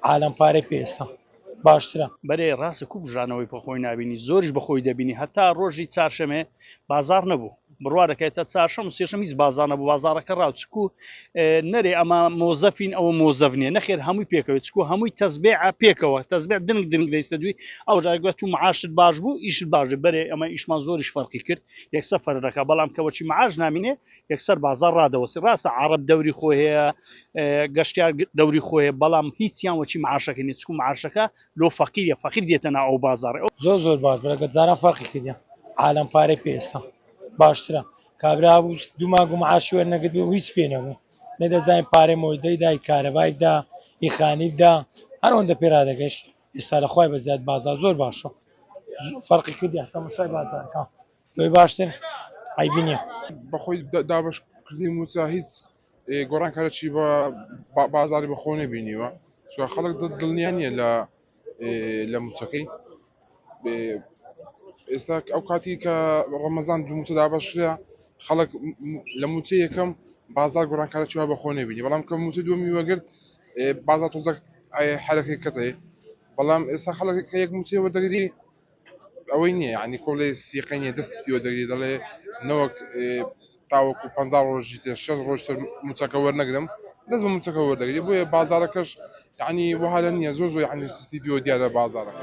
عالەم پارەی پێ ئێستا باشترە. بەرێ ڕاستە کو بژانەوەی بە خۆی نابینی زۆریش بە خۆی دەبینی هەتا ڕۆژی چارشەمێ بازاڕ نەبوو بڕوا دەکەی تا چارشەم و سێشەم هیچ بازاڕ نەبوو بازاڕەکە ڕاو چکو نەرێ ئەمە مۆزەفین ئەوە مۆزەف نیە نەخێر هەمووی پێکەوە چکو هەمووی تەزبێعە پێکەوە تەزبێ دنگ دنگ دەیستە دوی ئەو جارگوێت و معاشت باش بوو ئیشت باش بەرێ ئەمە ئیشمان زۆریش فەرقی کرد یەکسە فەرەکە بەڵام کەوەچی معاش نامینێ یەکسەر بازاڕ ڕادەوەستی ڕاستە عەڕەب دەوری خۆی هەیە گەشتیار دەوری خۆیە بەڵام هیچیان وەچی معاشەکە نیە چکو معاشەکە لۆ فەقیە فەقیر دێتە نا ئەو بازاڕی ئەو زۆر زۆر باش بەرەکەت زارا فەرقی کردە عالم پارەی پێ ئێستا باشترە کابرا بوو دوو مانگ و معاشی وەرنەگرت و هیچ پێ نەبوو نە دەزانین پارەی مۆیدەی دای کارەبای دا ئیخانی دا هەر ئەوەندە پێ رادەگەشت ئێستا لە خوای بەزیاد بازار زۆر باشە فەرقی کردی هەتا مشای بازارەکە لۆی باشتر عیبی نیە. بەخۆی دابەش کردی موچە هیچ گۆڕان کارە چی بە بازاری بە خۆ نەبینیوە چکە خەڵک دڵنیا نیە لە لە موچەکەی ئێستا ئەو کاتی کە ڕەمەزان دوو موچە دابەشرا خەڵک لە موچە یەکەم بازار گۆڕان کارە چوە بە خۆ نەبینی بەڵام کە موچە دومی وەگرت بازار تۆزەک حرەکەی کەتەی بەڵام ئێستا خەڵک کە یەک موچەوە دەگری ئەوەی نییە یعنی کۆڵێ سیقەی نییە دەستی پێوە دەگری دەڵێ نەوەک تاوەکو پ ڕۆژی تر شەش ڕۆژ تر موچەکە وەرنەگرم دەس بە موچەکە وەردەگری بۆیە بازارەکەش یعنی وەها لە نییە زۆر زۆر یعنی سستی پێوە دیارە بازارەکە.